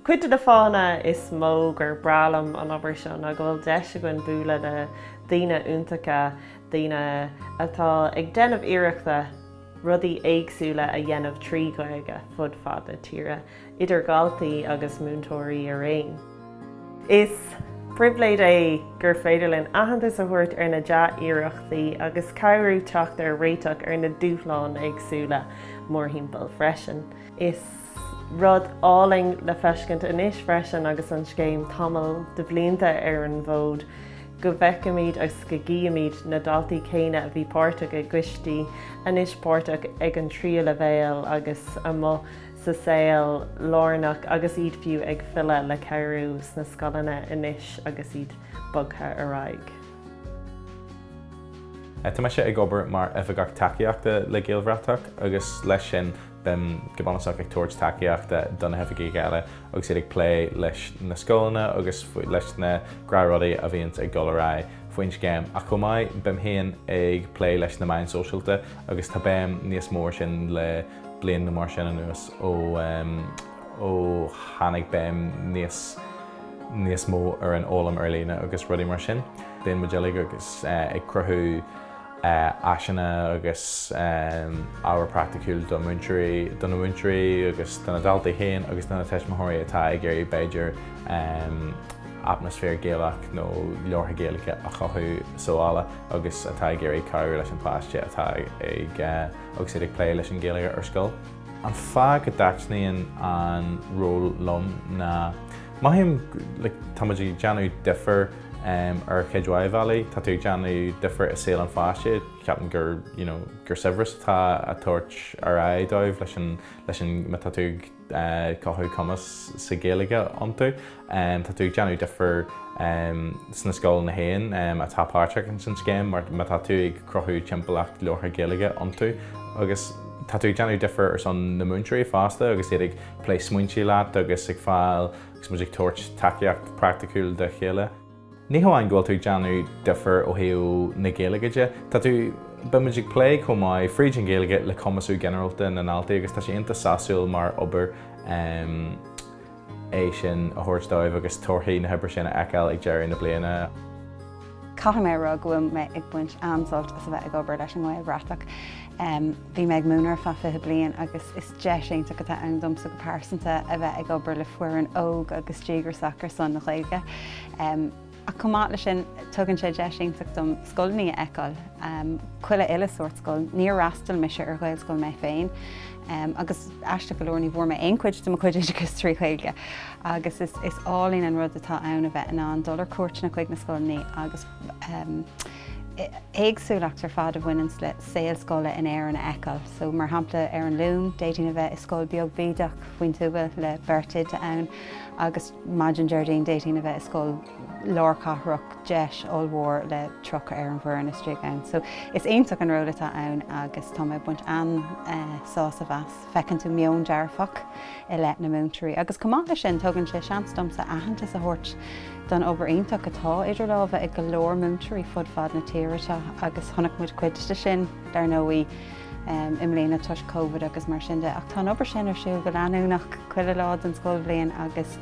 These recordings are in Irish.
Cuid de na fáthanna is mó gur breá liom an obair seo ná go bhfuil deis againn bualadh le daoine iontacha, daoine atá ag déanamh iarrachta rudaí éagsúla a dhéanamh trí Ghaeilge fud fad na tíre. idir dhaltaí agus múinteoirí araon. Is pribhléid é gur féidir linn aitheantas a thabhairt ar na dea-iarrachtaí agus cabhrú teacht ar réiteach ar na dúshláin éagsúla mórthimpeall freisin. Is rud álainn le feiscint anois freisin agus an scéim tamall de bhlianta ar an bhfód go bhfeicimid agus go gcífimid na daltaí céanna a bhí páirteach i gcoistí anois páirteach ag an tríú leibhéal agus amuigh sa saol lárnach agus iad fiú ag filleadh le cabhrú sna scoileanna anois agus iad bogtha ar aghaidh. Tá mise ag obair mar Oifigeach Tacaíochta le Gaelbhratach agus leis sin bím go bunúsach ag tabhairt tacaíochta do na hoifigigh eile agus iad ag plé leis na scoileanna agus leis na gnáth rudaí a bhíonn ag dul ar aghaidh faoin scéim. Ach chomh maith, bím féin ag plé leis na meáin sóisialta agus tá béim níos mó air sin le bliain nó mar sin anuas ó tháinig béim níos mó ar an fhoghlaim ar líne agus rudaí mar sin. Bíonn muid uilig agus ag cruthú áiseanna agus ábhar praiticiúil do na múinteoirí agus do na daltaí féin agus do na tuismitheoirí atá ag iarraidh b'fhéidir atmaisféar Gaelach nó labhartha Gaeilge a chothú sa bhaile agus atá ag iarraidh cabhrú leis an pháiste atá ag agus iad ag plé leis an Ghaeilge ar scoil. An fáth go dtaitníonn an ról liom ná, mothaím like tá muid ag déanamh difear ar chuid mhaith bhealaí. Tá tú ag déanamh difear i saol an pháiste, ceapaim gur you know gur saibhreas atá á tabhairt ar aghaidh dóibh leis an, leis an má tá tú ag, cothú cumas sa Ghaeilge iontu. Tá tú ag déanamh difir sna scoileanna féin atá páirteach ins an scéim mar má tá tú ag cruthú timpeallacht labhartha Ghaeilge iontu agus tá tú ag déanamh difir ar son na múinteoirí fosta agus iad ag plé smaointe leat agus ag fáil agus muid ag tabhairt tacaíocht praiticiúil dá chéile. Ní hamháin go bhfuil tú ag déanamh difir ó thaobh na Gaeilge de, tá tú, bímid ag plé chomh maith fríd an Ghaeilge le cumasú ginearálta na ndaltaí agus tá sé iontach sásúil mar obair é sin a thabhairt dóibh agus torthaí na hoibre sin a fheiceáil ag deireadh na bliana. Caithfidh mé a rá go bhfuil mé ag baint an-sult as a bheith ag obair leis an nGaelbhratach. Bhí mé ag múineadh ar feadh 20 bliain agus is. Deis iontach atá ann domsa go pearsanta a bheith ag obair le foireann óg agus díograsach ar son na Gaeilge. Ach chomh maith leis sin, tugann sé deis iontach dom scoileanna a fheiceáil, chuile uile shórt scoil. Níor fhreastail mise ar Ghaelscoil mé féin agus aisteach go leor ní bhfuair mé aon chuid de mo chuid oideachais trí Ghaeilge. Agus is álainn an rud atá ann a bheith in ann dul ar cuairteanna chuig na scoileanna agus, éagsúlacht ar fad a bhaineanns le saol scoile in Éirinn a fheiceáil. So, mar shampla, ar an Luan, d'fhéadfainn a bheith i scoil beag bídeach faoin tuath le beirt oide ann, agus maidin Déardaoin d'fhéadfainn a bheith i scoil lárchathrach DEIS ollmhór le tríocha ar an bhfoireann istigh ann. So, is iontach an ról atá ann agus tá mé ag baint an-sásamh as. feiceann tú meon dearfach i leith na múinteoirí agus chomh maith leis sin tugann sé seans domsa aitheantas a thabhairt don obair iontach atá idir lámha ag go leor múinteoirí fud fad na tíre seo agus chonaic muid cuid de sin, dar ndóigh, i mbliana toisc Covid agus mar sin de ach tá an obair sin ar siúl go leanúnach chuile lá den scoilbhliain agus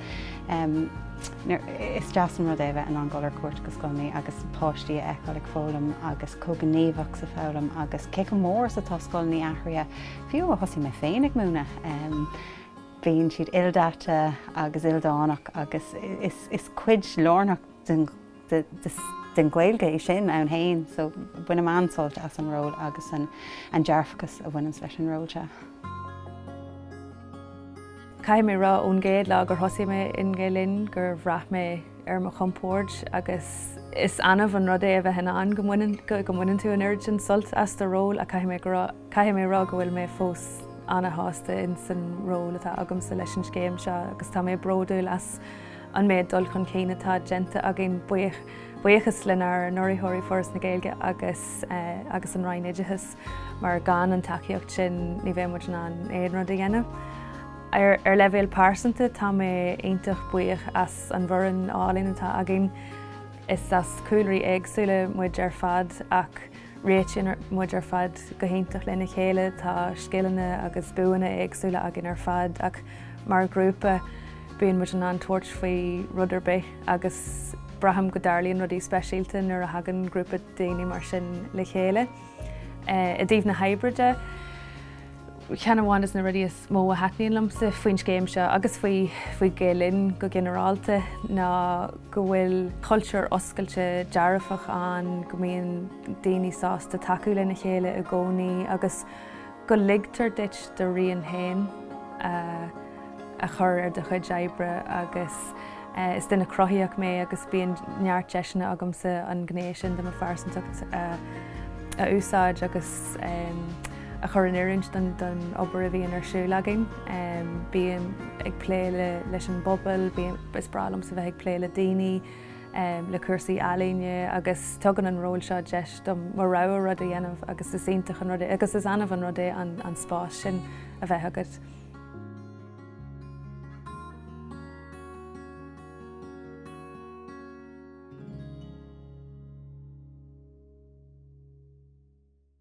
is deas an rud é a bheith in ann dul ar cuairt go scoileanna agus páistí a fheiceáil ag foghlaim agus chomh gníomhach sa foghlaim agus cé chomh mór is atá scoileanna athraithe Fiú ó thosaigh mé féin ag múineadh, bíonn siad ildaite agus ildánach agus is cuid lárnach den Ghaeilge é sin ann féin so bainim an-sult as an ról agus an dearfachas a bhaineanns leis an ról seo. Caithfidh mé a rá ón gcéad lá gur thosaigh mé i nGael Linn gur bhraith mé ar mo chompord agus is annamh an rud é a bheith in ann go mbaineann tú an oiread sin sult as do ról ach caithfidh mé a rá Caithfidh mé a rá go bhfuil mé fós ana-shásta ins an ról atá agamsa leis an scéim seo agus tá mé bródúil as an méid dul chun cinn atá déanta againn, buíochas lenár n-urraitheoirí, Foras na Gaeilge agus an Roinn Oideachais, mar gan an tacaíocht sin ní bheadh muid in ann aon rud a dhéanamh. Ar leibhéal pearsanta, tá mé iontach buíoch as an bhfoireann álainn atá againn. Is as cúlraí éagsúla muid ar fad ach. Réitíonn muid ar fad go hiontach lena chéile, tá scileanna agus buanna éagsúla againn ar fad ach mar ghrúpa bíonn muid in ann tabhairt faoi rud ar bith agus braithim go dtarlaíonn rudaí speisialta nuair a thagann grúpa daoine mar sin le chéile. I dtaobh na hoibre de, cheann amháin de na rudaí is mó a thaitníonn liomsa faoin scéim seo agus faoi Gael Linn go ginearálta ná go bhfuil cultúr oscailte dearfach ann, go mbíonn daoine sásta tacú lena chéile i gcónaí agus go ligtear duit do rian féin a chur ar do chuid d'oibre agus is duine cruthaitheach mé agus bíonn neart deiseanna agamsa an ghné sin de mo phearsantacht a úsáid agus a chur in oiriúint don obair a bhíonn ar siúl againn. Bím ag plé leis an bpobal, is breá liomsa bheith ag plé le daoine, le cúrsaí ealaíne agus tugann an ról seo deis dom mo rogha rud a dhéanamh agus is iontach an rud é agus is annamh an rud é an spás sin a bheith agat.